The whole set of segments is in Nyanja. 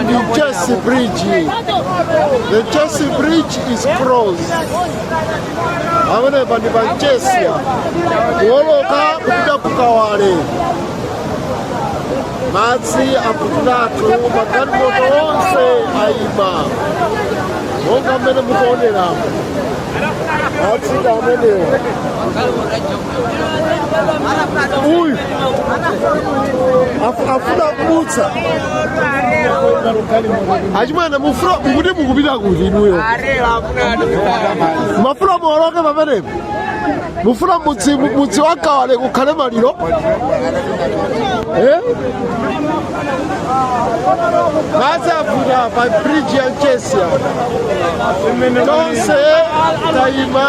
Ndi Mchesi Bridge. The Mchesi Bridge is closed. Pamenepa ndi pa Mchesi. Kuwoloka kupita ku Kawale. Madzi akutatu magalimoto onse ayima. Monga mmene mukuonera. Madzi ndi amenewa. uyu Afu- afuna kudutsa achimwene mufuna kuti mukupita kuti inuyo mumafuna muoloke pamenepo mufuna mudzi wa Kawale kukhale maliro Eh? madzi avuta pa bridge ya Mchesi apa tonse tayima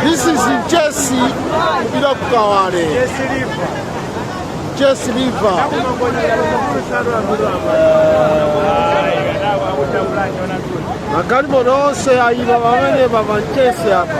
This is Mchesi kupita ku Kawale. Mchesi River. Magalimoto onse ayima pamenepa pa Mchesi apa.